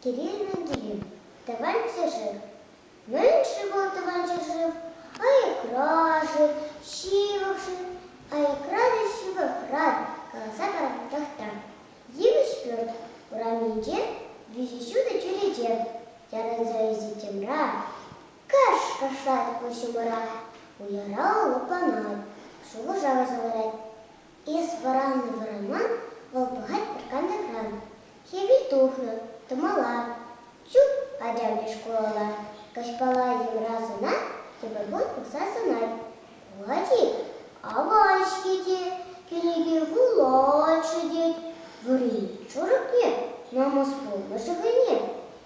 Кирилл Менделеев Тӑван ҫӗршыв Мӗн-ши вӑл тӑван ҫӗршыв? Аякра-ши, ҫывӑх-ши? Аякра та ҫывӑхран каласа паратпӑрах та. Йывӑҫ пӳрт урамӗнче виҫӗ ҫутӑ чӳрече ярӑнса ӳсет йӑмра. Кӑшкӑрсах пуҫӑмӑра уйӑра лӑпланать, шухӑша вӑрса ларать. Эс вӑраннӑ-вӑранман вӑл пӑхать пӗр кантӑкран. Хӗвел тухнӑ, тӑмала. Чуп, ачамри шкулалла каҫпала йӑмра сӑна, тепӗр кун пӑхса сӑнать. Кулать-и? Аван-ҫке те, кӗреке вулать-ши тет, вӑри чурӑкне, намӑс пулнӑ шӑхӑйне.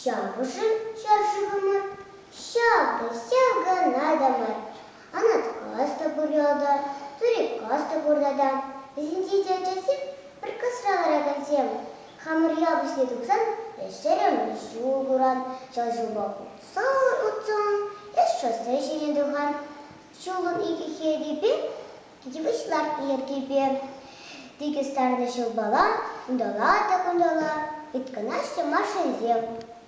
Ҫапӑшӑн ҫӗр-шывӑмӑр ҫакӑ, ҫав кана та мар. Анаткас та пур ялта, Турикас та пур тата. Вӗсенче те ачасем, пӗр касра ларакансем. Хамӑр ял пуҫне тухсан эс ҫӗрӗмӗш ҫул куран, ҫав ҫулпа утсан-утсан эс шоссе ҫине тухан. Ҫулӑн икӗ хевипе Йывӑҫ лартнӑ йӗркепе тикӗс сарнӑ ҫӑлпала, унталла та кунталла ыйткӑнаҫҫӗ Машинсем.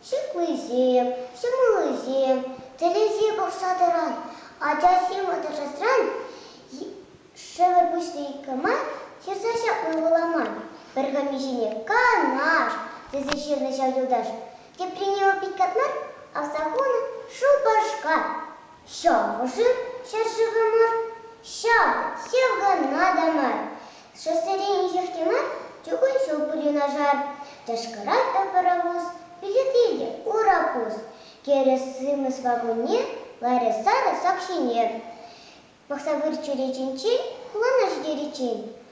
Ҫыхлисем, ҫӑмӑллисем тӗлӗсе пӑхса тӑран ачасем аташасран шӗвӗр пуҫне иккӗ-май ҫырса ҫапма пула мар, пӗр хӑмиҫине Канаш тесе ҫырнӑ ҫав юлташ. Теприне вӑл пит катман, аса хунӑ Шупашкар. Шӑхӑшӑр ҫӗршывӑмӑр ҫав, ҫав кана та мар. Шоссерен инҫех те мар чукун ҫул пуҫӑнашар. Тӑшкӑрать та паровоз, билетре те урапус. Кӗрес сымӑс вагонне ларӗ сарӑ сак ҫине. Пӑхса выр чӳречинчен хулана ҫитериччен